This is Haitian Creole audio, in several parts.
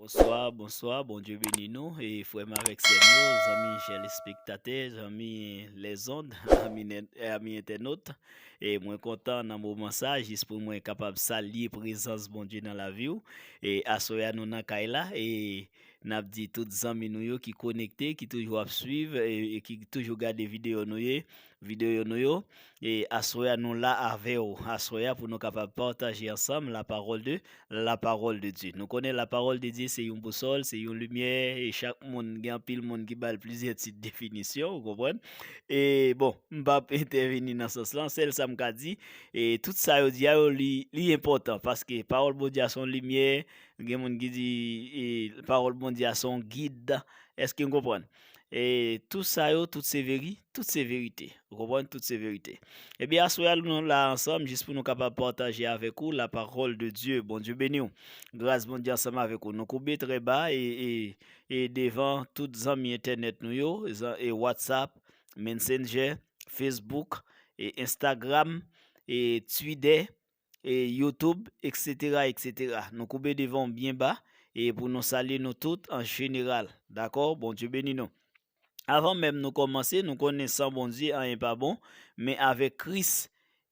Bonswa bonswa Bondye beni nou frèm avèk sèm yo zanmi chèl espektatè zanmi lèzond ami entènot e mwen kontan nan moman sa jis pou mwen kapab salye prezans Bondye nan laviw e aswè a nou nan kay la e nap di tout zanmi nou yo ki konekte ki toujou ap swiv e ki toujou gade videyo nou ye Videyo nou yo, e aswè a nou la avè ou aswè a pou nou kapab pataje ansanm la paròl de la paròl de Dye. Nou konnen la paròl de Dye se yon bousòl, se yon limyè e chak moun gen anpil moun ki bal plizyè tit definisyon ou konprann. E bon, m pap entèveni nan sans lan, sèl sa m ka di e tout sa yo di a yo li li enpòtan paske paròl Bondye a son limyè, gen moun ki di e paròl Bondye a son gid, èske n konprann? E tou sa yo tout se veri Tout se verite. Ou konprann? Tout se verite. Ebyen aswè a nou la ansanm jis pou nou kapab pataje avèk ou la paròl de Dye. Bondye beni w. Gras Bondye ansanm avèk ou. Nou koube trè ba e e e devan tout zanmi entènèt nou yo, zan e WhatsApp, Mensenjè, Facebook, e Instagram, e Twidè, e youtube etc etc nou koube devan w byen ba e pou nou salye nou tout an jeneral dakò Bondye beni nou avan menm nou kòmanse nou konnen san Bondye anyen pa bon men avèk Kris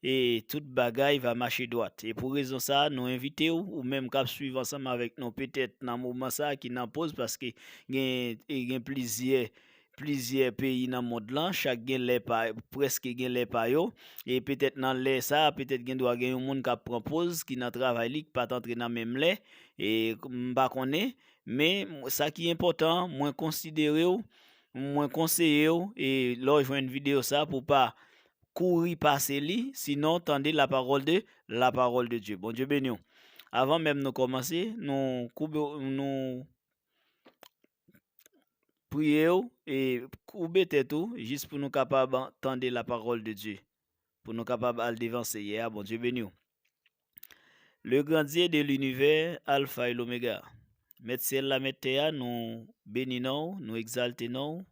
e tout bagay va mache dwat e pou rezon sa nou envite w ou menm kap swiv ansanm avèk nou petèt nan moman sa ki nan poz paske gen e gen plizyè plizyè peyi nan mond lan, chak gen lè pa, prèske gen lè pa yo, e petèt nan lè sa a, petèt gen dwa gen yon moun k ap pran poz, ki nan travay li, ki pa t antre nan menm lè, e, m pa konnen, men, sa ki enpòtan, mwen konsidere w, mwen konseye w, e, lè w jwenn videyo sa a, pou w pa kouri pase li, sinon, tande la parole de, la parole de Dieu. Bondye beni w. Avan menm nou kòmanse, nou koube, nou. Priye ou e koube tèt ou jis pou nou kapab tande la parole de Dieu. Pou nou kapab al devan Seyè a, Bondye beni ou. Le grand Dieu de l'univers, Alpha et l'Omega. Mèt syèl la, mèt tè a, nou beni non ou, nou egzalte non ou,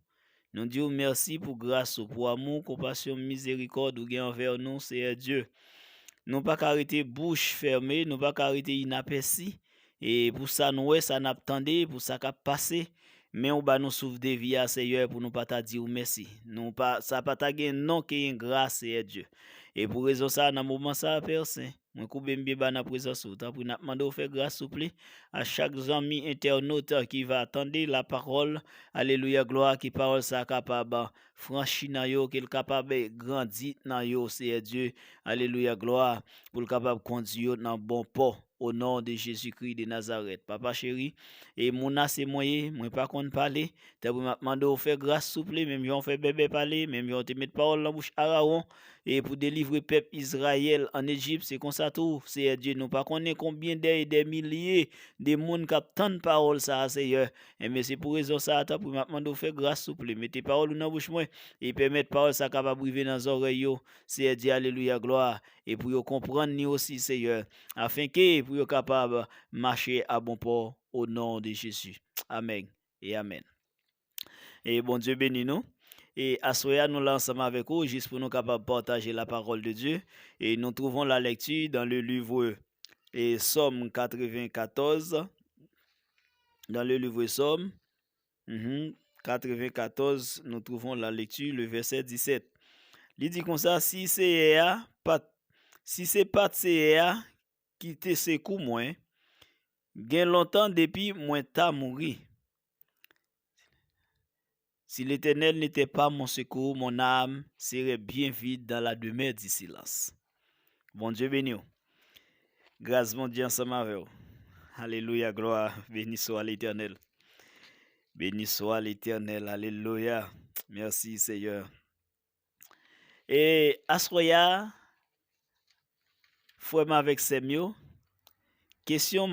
Nou di ou mèsi pou gras ou, pou amou, konpasyon, mizerikòd ou gen anvè nou, Seyè Dye. Nou pa ka rete bouch fèmen, nou pa ka rete inapèsi, e pou sa n wè, sa n ap tande, pou sa k ap pase, men ou ba nou souf de vi a, Seyè, pou nou pa ta di ou mèsi. Nou pa, sa pa ta gen non ke engra, Seyè Dye. E pou rezon sa a, nan moman sa a, Pè Sen, Mwen koube m byen ba nan prezans ou. Tanpri nap mande w fè gras souple a chak zanmi entènot ki va tande la pawòl alelouya glwa ke pawòl sa kapab franchi nan yo ke l kapab grandi nan yo Seyè Dye alelouya glwa pou l kapab kondi yo nan bon pò o non de Jezi Kri de Nazarèt papa cheri e moun a se mwen ye mwen pa konn pale tanpri map mande w fè gras souple menm jan w fè Bèbè pale menm jan w te met pawòl nan bouch Arawon e pou delivre pèp Izrayèl ann Ejip, se konsa tou, Seyè Dye nou, pa konnen konbyen dè e dè milye de moun k ap tann pawòl sa a, Seyè. Enben, se pou rezon sa a, tanpri, m ap mande w fè gras, souple, mete pawòl ou nan bouch mwen, e pèmèt pawòl sa a kapab rive nan zòrèy yo, Seyè Dye, alelouya, glwa, e pou yo konprann li osi, Seyè, afenke pou yo kapab mache abonpò, o non de Jezi. Amèn e amèn. E bon Dieu beni nou. E aswè a nou la ansanm avèk ou jis pou nou kapab pataje la parole de Dieu. E nou trouvons la lecture dans le livre e Somme 94 dans le livre Somme mhm, 94 nou trouvons la lecture le verset 17. Li di konsa si Seyè a pat si se pat Seyè a ki te sekou mwen gen lontan depi mwen ta mouri. Si Letènèl ne tè pa mon sekou, mon ame serè byen vid dan la demè di silans. Bondye beni w. Gras Bondye ansanm avè w. Alelouya glwa beni swa Letènèl. Beni swa Letènèl alelouya. Mèsi Seyè. E aswè ya frèm avèk sèm yo kesyon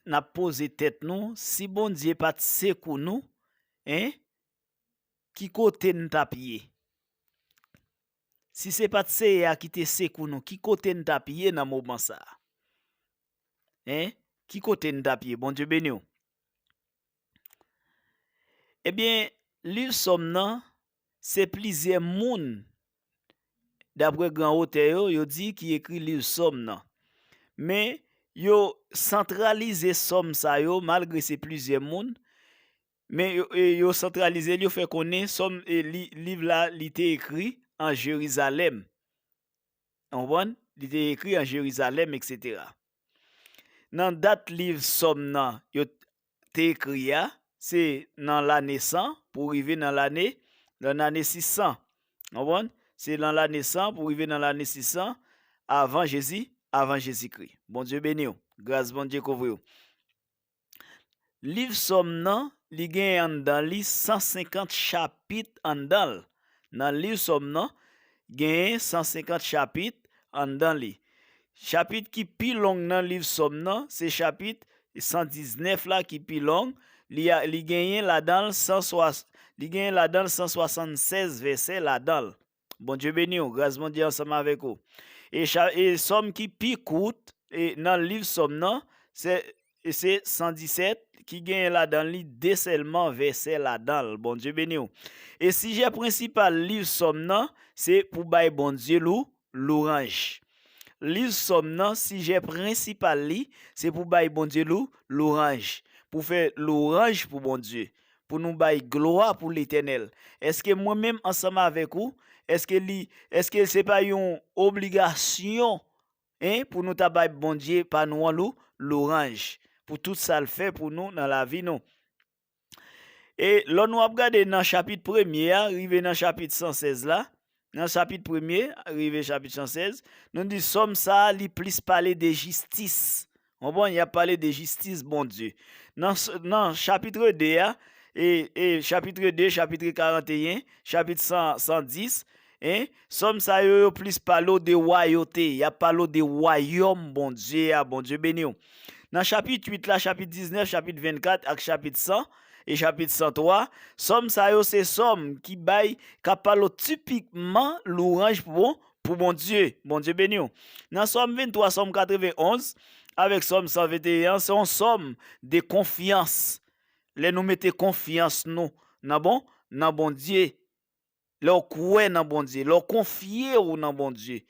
nap poze tèt nou si Bondye pat sekou nou hein ki kote nou tap ye si se pat Seyè a ki te sekou nou ki kote nou tap ye nan moman sa hein ki kote nou tap ye Bondye beniw. Ebyen liv sòm nan Se plizyè moun, dapre gran otè yo, yo di ki ekri liv Sòm nan. Men, yo santralize Sòm sa yo, malgre se plizyè moun, men yo santralize l, yo fè konnen Sòm, liv la, li te ekri an Jerizalèm. Ou konprann? Li te ekri an Jerizalèm, eksetera. Nan dat liv Sòm nan, yo te ekri a, se nan lane 100 pou rive nan lane, nan lane 600. N konprann? Se nan lane 100 pou rive nan lane 600 avan Jezi, avan Jezikri. Bondye beni w. Gras Bondye kouvri w. Liv Sòm nan, li gen anndan li 150 chapit anndan l. Nan liv Sòm nan, genyen 150 chapit anndan li. Chapit ki pi long nan liv Sòm nan, se chapit 119 la ki pi long, li genyen ladan l 176 vèsè ladan l. Bondye beni w, gras Bondye ansanm avèk ou. E Sòm ki pi kout nan liv Sòm nan, se E se 117 ki genyen ladan li 2 sèlman vèsè ladan l. Bondye beni w. E sijè prensipal liv Sòm nan se pou bay Bondye lou, louranj. Liv Sòm nan sijè prensipal li se pou bay Bondye lou, louranj. Pou fè louranj pou Bondye. Pou nou bay glwa pou Letènèl. Èske mwen menm ansanm avèk ou, èske li, èske se pa yon obligasyon Hein pou nou ta bay Bondye pa nou an lou louranj pou tout sal fè pou nou nan lavi nou e lò nou ap gade nan chapit premye a rive nan chapit 116 la nan chapit premye rive chapit 116 nou di sòm sa li plis pale de jistis Konprann, y ap pale de jistis Bondye. Nan chapitre 2 a, e chapitre 2, chapitre 41, chapit 110, e, sòm sa yo yo plis pale w de wayote, y ap pale w de wayòm Bondye a, Bondye beni w. Nan chapit 8 la, chapit 19, chapit 24 ak chapit 100, e chapit 103, sòm sa yo se sòm ki bay, k ap pale w tipikman lwanj pou bon, pou Bondye. Bondye beni w. Nan Sòm 23, Sòm 91, avèk Sòm 121 an, se yon Sòm de konfyans. Lè nou mete konfyans nou nan bon, nan Bondye, lè w kwè nan Bondye, lè w konfye w nan Bondye.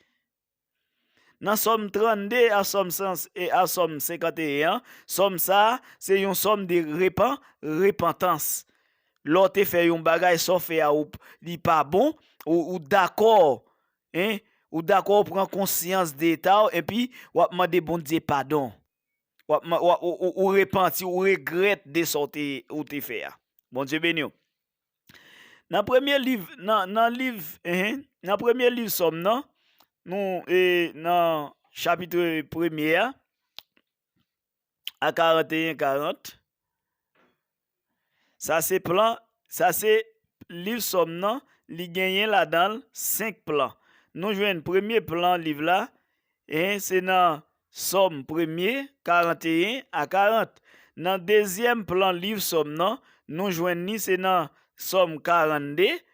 Nan Sòm 32 a Sòm 51 an, Sòm sa a, se yon Sòm de repan, repantans. lè w te fè yon bagay sa w fè a ou li pa bon ou dakò hein ou dakò ou pran konsyans de eta w epi wap mande Bondye padon wap ou repanti ou regrèt de sa ou te fè a Bondye beni w nan premye liv nan liv hein nan premye liv sòm nan nou e nan chapitre premye a a 41 40 sa se plan sa se liv sòm nan li genyen ladan l 5 plan nou jwenn premye plan liv la e se nan sòm premye 41 a 40 nan dezyèm plan liv sòm nan nou jwenn ni se nan sòm 42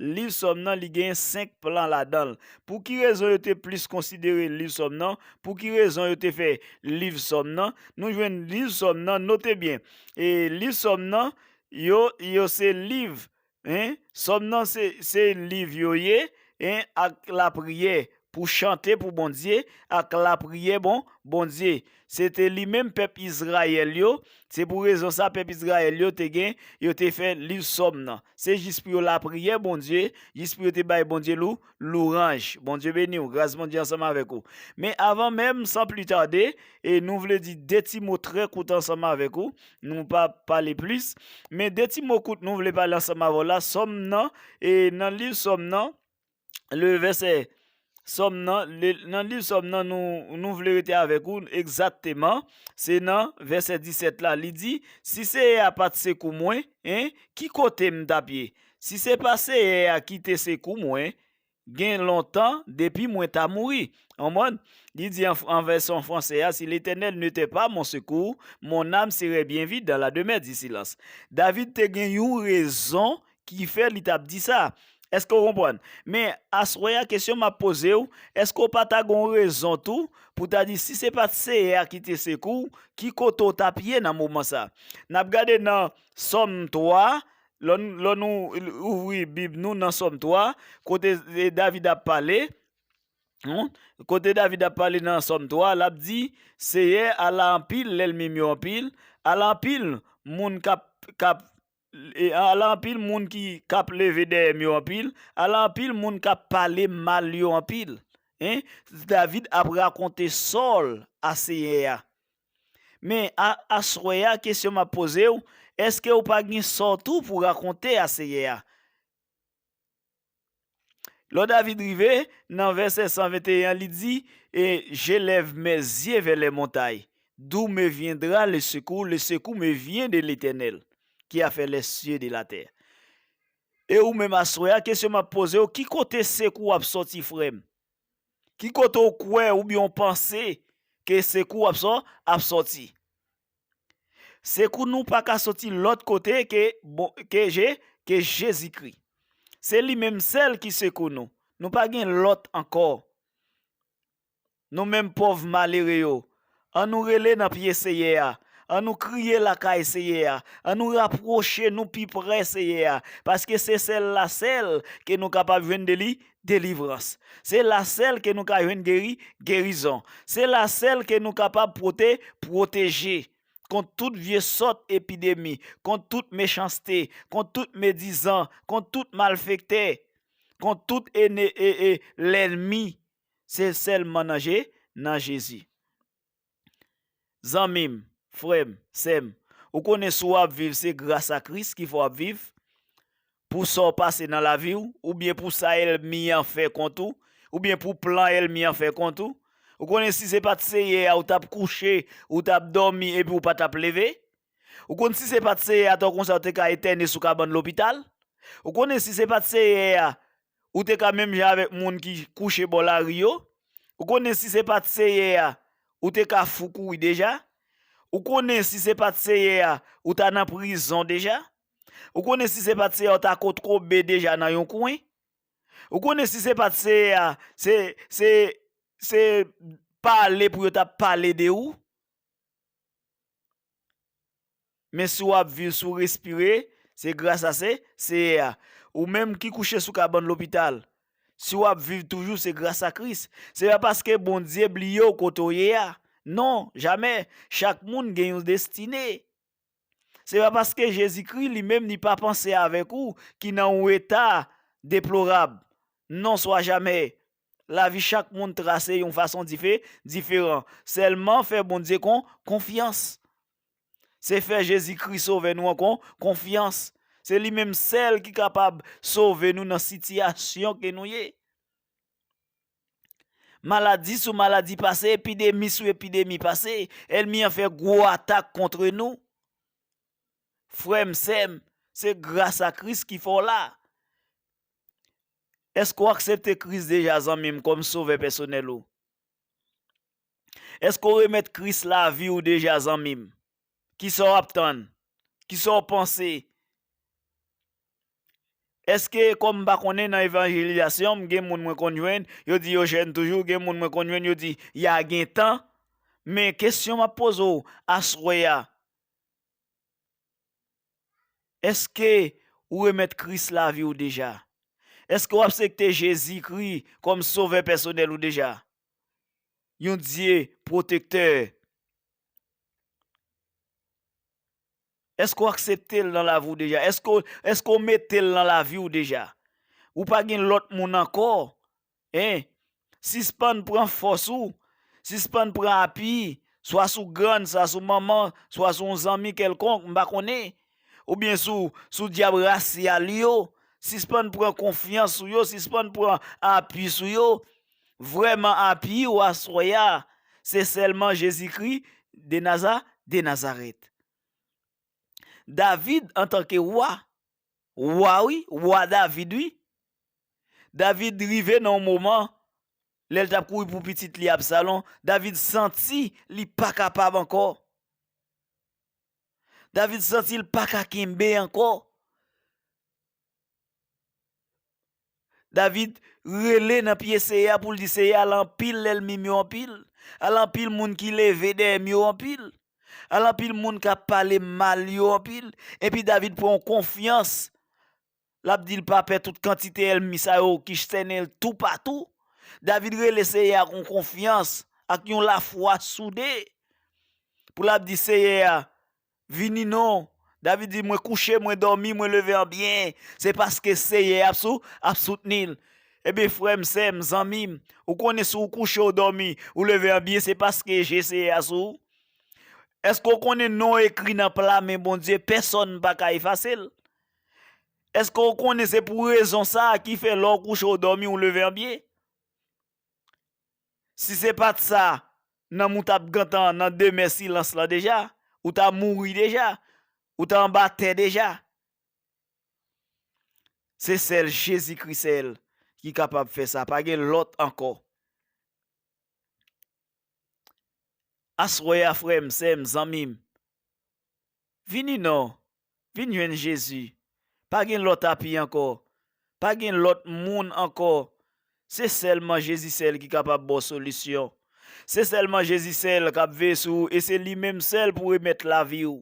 Liv Sòm nan, li genyen senk plan ladan l. Pou ki rezon yo te plis konsidere liv Sòm nan? Pou ki rezon yo te fè liv Sòm nan? Nou jwenn liv Sòm nan, note byen, e liv Sòm nan yo, yo se liv, 1. Sòm nan se, se liv yo ye, 1 ak lapriyè, pou chante pou Bondye, ak lapriyè bon Bondye. Se te li menm pèp Izrayèl yo, se pou rezon sa pèp Izrayèl yo te gen, yo te fè liv Sòm nan. Se jis pou yo lapriyè Bondye, jis pou yo te bay Bondye lou, louranj. Bondye beni w, gras Bondye ansanm avèk ou. Men avan menm, san pli tade, e nou vle di de ti mo trè kout ansanm avèk ou, nou pa pale plis, men de ti mo kout nou vle pale ansanm avè w la, Sòm nan, e nan liv Sòm nan, le vèsè Sòm nan, nan liv Sòm nan nou vle rete avèk ou egzatteman, se nan vèsè 17 la, li di, Si Seyè a pa t sekou mwen, ki kote m t ap ye? Si se pa Seyè a ki te sekou mwen, gen lontan depi mwen ta mouri. Li di an vèsyon franse a, Si Letènèl nete pa mon sekou, mon nam serè byen vid dan la demè di silans. David te gen yon rezon ki fè li t ap di sa. Èske w konprann? Men, aswè a, kesyon m ap poze w, èske w pa ta gen yon rezon tou pou w ta di, si se pa t Seyè a ki te sekou w, ki kote w t ap ye nan moman sa a? N ap gade nan Sòm 3, lè nou ouvri Bib nou nan Sòm 3, kote David ap pale, kote David ap pale nan Sòm 3, l ap di, Seyè, ala anpil lènmi m yo anpil, ala anpil moun k ap Ala anpil moun ki kap leve dèyè m yo anpil, ala anpil moun kap pale m mal yo anpil. Hein? David ap rakonte Sòl a Senyè a. Men, a, aswè a, kesyon m ap poze ou, èske ou pa gen sò tou pou rakonte a Senyè a? Lò David rive, nan vèsè 121 an, li di, E je lève mes yeux vers les montagnes, d'où me viendra le secours? Le secours me vient de l'Etènèl, ki a fè les cieux et de la terre. E ou menm aswè a, kesyon m ap poze ou, ki kote sekou w ap sòti frè m? Ki kote ou kwè oubyen ou panse ke sekou w ap sòti? Se kou nou pa ka soti lòt kote ke bon ke je ke Jezikri. Se li menm sèl ki sekou nou. Nou pa gen lòt ankò. Nou menm pòv malere yo, an nou rele nan pye Seyè a, an nou kriye lakay Seyè a, an nou rapwoche nou pi prè Seyè a, paske se sèl la sèl ke nou kapab jwenn de li delivrans. Se la sèl ke nou ka jwenn geri, gerizon. Se la sèl ke nou kapab pwote, pwoteje. Kont tout vye sòt epidemi, kont tout mechanste, kont tout medizan, kont tout malfektè, kont tout ene e e lènmi. Se sèlman nan je, nan Jezi. Zanmim, frèm, sèm, ou konnen si w ap viv se gras a Kris ki fè w ap viv, pou sa w pase nan lavi w, oubyen pou sa èlmi an fè kont ou, oubyen pou plan èlmi an fè kont ou. Ou konnen si se pa t Seyè a ou t ap kouche, ou t ap dòmi epi ou pa t ap leve. Ou konn si se pat seyè a to konsa ou te ka etène sou kabann lopital? Ou konnen si se pat seyè a ou te ka menm jan avèk moun ki kouche bò lari yo? Ou konnen si se pat seyè a ou te ka fou kouri deja? Ou konnen si se pat seyè a ou ta nan prizon deja? Ou konnen si se pat seyè a ou ta kot kobe deja nan yon kwen? Ou konnen si se pat seyè a se se se pale pou yo tap pale de ou? Men si w ap viv, si w respire, se gras a se Seyè a. Ou menm ki kouche sou kabann lopital, si w ap viv toujou, se gras a Kris. Se pa paske Bondye bliye w kote w ye a. Non, jamè! Chak moun gen yon destine. Se pa paske Jezikri li menm li pa panse avèk ou ki nan yon eta deplorab. Non, swa jamè! Lavi chak moun trase yon fason dife diferan. Sèlman fè Bondye kon konfyans. Se fè Jezi Kris sovè nou an kon konfyans. Se li menm sèl ki kapab sove nou nan sitiyasyon ke nou ye. Maladi sou maladi pase, epidemi sou epidemi pase, èlmi an fè gwo atak kontre nou. Frè m, sè m, se gras a Kris ki fè w la. Èske w aksepte Kris deja zanmi m kòm sovè pèsonèl ou? Èske w remèt Kris lavi w deja zanmi m? Kisa w ap tann? Kisa w panse? Èske kòm m pa konnen nan evanjelizasyon m gen moun mwen konn jwenn yo di yo jèn toujou gen moun mwen konn jwenn yo di ya gentan men kesyon m ap poze w aswè a Eske ou remèt Kris lavi ou deja? Eske w apsekte Jezikri kòm Sovè pèsonèl ou deja? Yon Dye pwotektè. Eske w aksepte l nan lavi w deja? Eske w mete l nan lavi w deja? Ou pa gen lòt moun ankò? Hein! Sispann pran fòs ou, sispann pran api, swa sou grann, swa sou manman, swa sou yon zanmi kèlkonk, m pa konnen, oubyen sou, sou dyab rasyal yo, sispann pran konfyans sou yo, sispann pran api sou yo. Vrèman api ou aswè a, se sèlman Jezikri de Naza, de Nazarèt. David antanke wa, Wa wi, Wa David wi. David rive nan yon moman, lè l t ap kouri pou pitit li Absalon, David santi li pa kapab ankò. David santi l pa ka kenbe ankò. David rele nan pye Seyè a pou l di, Seyè, ala anpil lènmi m yo anpil! Ala anpil moun ki leve dèyè m yo anpil! Ala anpil moun k ap pale m mal yo anpil! Epi David pran yon konfyans, l ap di l pa pè tout kantite ènmi sa yo ki sènen l toupatou. David rele Seyè a ak yon konfyans, ak yon lafwa soude, pou l ap di, Seyè, Vini non. David di, Mwen kouche, mwen dòmi, mwen leve an byen, se paske Seyè a ap soutni l. Ebyen, frè m, sè m, zanmi m, ou konnen si w kouche, w dòmi, ou leve an byen, se paske je Seyè a sou ou. Èske w konnen non w ekri nan pla men Bondye, pèsòn pa ka efase l? Èske w konnen se pou rezon sa a ki fè lè w kouche, w dòmi, w leve an byen? Si se pat sa nanm ou tap gentan nan demè silans lan deja, ou ta mouri deja, ou ta anba tè deja. Se sèl Jezi Kri sèl ki kapab fè sa, pa gen lòt ankò. Aswè a frèm, sèm, zanmim, vini non Vin jwenn Jezi. Pa gen lòt api ankò. Pa gen lòt moun ankò. Se sèlman Jezi sèl ki kapab ba w solisyon. Se sèlman Jezi sèl k ap veye sou ou e se li menm sèl pou remèt lavi ou.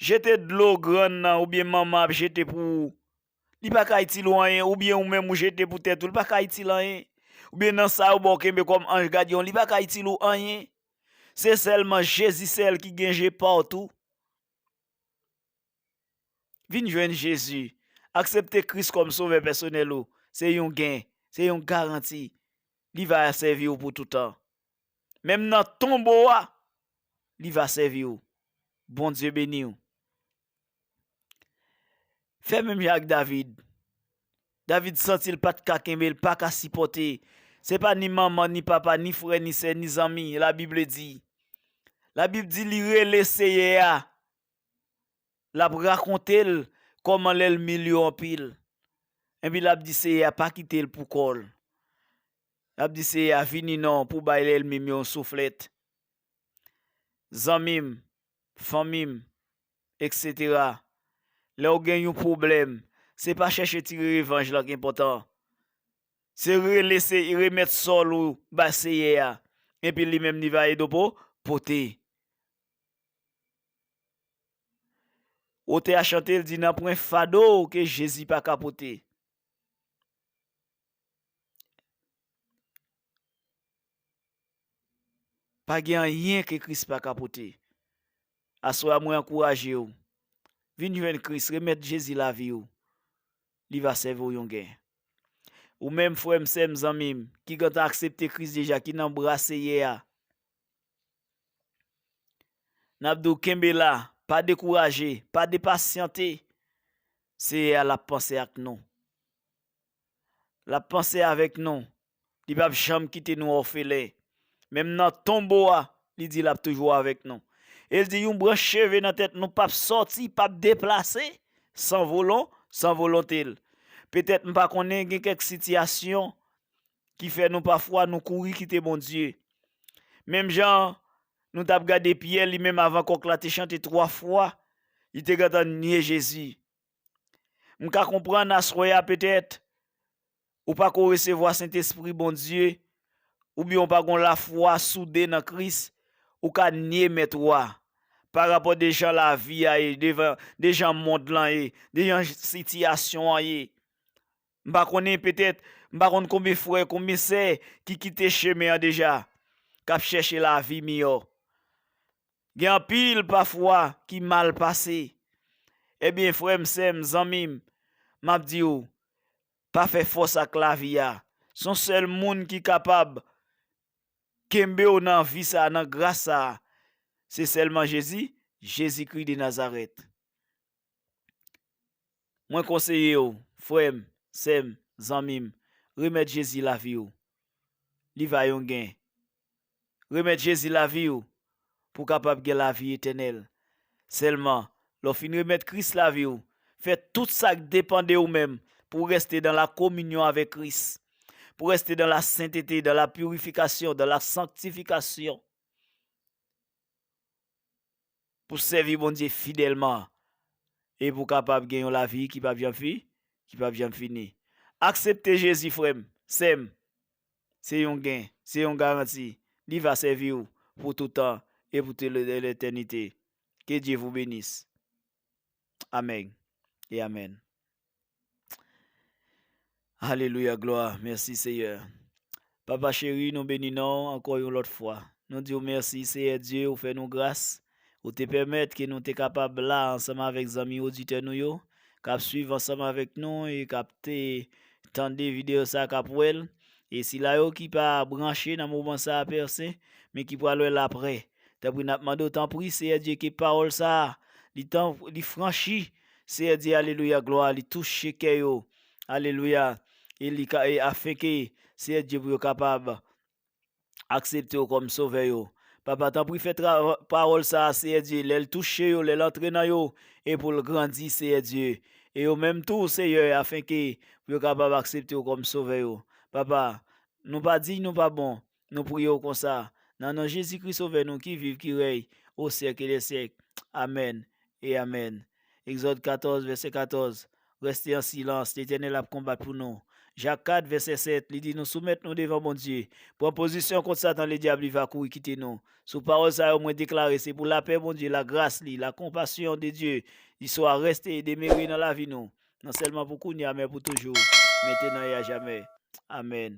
Jete dlo grann nan oubyen manman ap jete pou ou Li pa ka itil ou anyen, oubyen ou menm ou jete pou tèt ou, li pa ka itil anyen. Oubyen nan sa yo ba w kenbe kòm anj gadyon, li pa ka itil ou anyen. Se sèlman Jezi sèl ki gen je patou. Vin jwenn Jezi, aksepte Kris kòm sovè pèsonèl ou, se yon gen, se yon garanti, li va sèvi ou pou toutan. Menm nan tonbo a, li va sèvi ou. Bondye beni ou. Fè menm jan ak David. David santi l pa t ka kenbe, l pa ka sipòte. Se pa ni manman, ni papa, ni frè, ni sè, ni zanmi, la Bib di. La Bib di li rele Seyè a, l ap rakonte l kòman lèlmi l yo anpil. Epi l ap di Seyè a pa kite l pou kò l. L ap di Seyè a vini non pou w bay lèlmi m yo yon souflèt. Zanmi m, fanmi m etc. Lè w gen yon pwoblèm se pa chèche tire revanj lan k enpòtan se rele se remèt sòl ou bay Seyè a epi li menm li va ede w pou pote. Otè a chante l di nanpwen fado ke Jezi pa ka pote. Pa gen anyen ke Kris pa ka pote. Aswè a mwen ankouraje w, vin jwenn Kris, remèt Jezi lavi w, li va sèvi w yon gen. Ou menm frè m, sè m, zanmi m, ki gentan aksepte Kris deja, ki nan bra Seyè a, n ap di w kenbe la, pa dekouraje, pa depasyante, Seyè a l ap panse ak nou. L ap panse avèk nou. Li pap janm kite nou òfelen. Menm nan tonbo a, li di l ap toujou avèk nou. E l di yon branch cheve nan tèt nou pap sòti, pap deplase, san volon, san volonte l. Petèt m pa konnen gen kèk sitiyasyon ki fè nou pafwa nou kouri kite Bondye. Menm jan nou t ap gade Pyè li menm avan kòk la te chante twa fwa, li te gentan nye Jezi. M ka konprann aswè a petèt ou pa ko resevwa Sentespri Bondye oubyen ou pa gon lafwa soude nan Kris, ou ka nye Mèt ou a. Pa rapò de jan lavi a ye, de jan mond lan ye, de jan sitiyasyon an ye, M pa konnen, petèt, m pa konn konbyen frè, konbyen sè ki kite chemen an deja, k ap chèche lavi miyò. Gen anpil, pafwa, ki mal pase. Ebyen, frè m, sè m, zanmi m, m ap di ou, pa fè fòs ak lavi a. S on sèl Moun ki kapab kenbe ou nan vi sa a, nan gras sa a, se sèlman Jezi, Jezikri de Nazarèt. Mwen konseye w, frè m, sè m, zanmi m, remèt Jezi lavi w. Li va yon gen. Remèt Jezi lavi w pou w kapab gen lavi etènèl. Sèlman, lè w fin remèt Kris lavi w, fè tout sa k depan de ou menm pou w rèste dan la kominyon avèk Kris, pou w rèste dan la sentete, dan la pirifikasyon, dan la sanktifikasyon. Pou sèvi Bondye fidèlman e pou w kapab gen yon lavi ki pap janm fi, ki pap janm fini. Aksepte Jezi frè m, sè m, se yon gen, se yon garanti, li va sèvi w pou toutan e pou tout letènite. Ke Dye vou benis. Amèg e amèn. Alelouya glwa mèsi seyè Papa cheri nou beni non ankò yon lòt fwa nou diw mèsi seyè Dye ou fè nou gras ou te pèmèt ke nou te kapab la ansanm avèk zanmi oditè nou yo kap swiv ansanm avèk nou e kap te tande videyo sa kap wèl e sila yo ki pa branche nan moman sa Père Sen men ki pral wèl aprè tanpri nap mandew tanpri seyè Dye ke pawòl sa li tan li franchi Seyè di alelouya glwa li touche kè yo alelouya e li ka e afenke Seyè Dye pou yo kapab akseptew kòm sovè yo papa tanpri fè tra pawòl sa Seyè Dye lèl touche yo lèl antre nan yo e poul grandi Seyè Dye e yo menm tou Seyè afenke pou yo kapab akseptew kòm sovè yo papa nou pa diy nou pa bon Nou priye w konsa, nan non Jezikri Sovè nou ki viv, ki rèy o syèke dè syèk. Amèn e amèn. Egzòd 14, vèsè 14, Rèste an silans, Letènèl ap konbat pou nou. Jak 4, vèsè 7, li di nou soumèt nou devan Bondye, pran pozisyon kont Satan Ledyab li va kouri kite nou. Sou pawòl sa yo mwen deklare se pou lapè Bondye, lagras li, lakonpasyon de Dye li swa, rèste e demere nan lavi nou, non sèlman pou kounya men pou toujou, mentenan e ajamè. Amèn.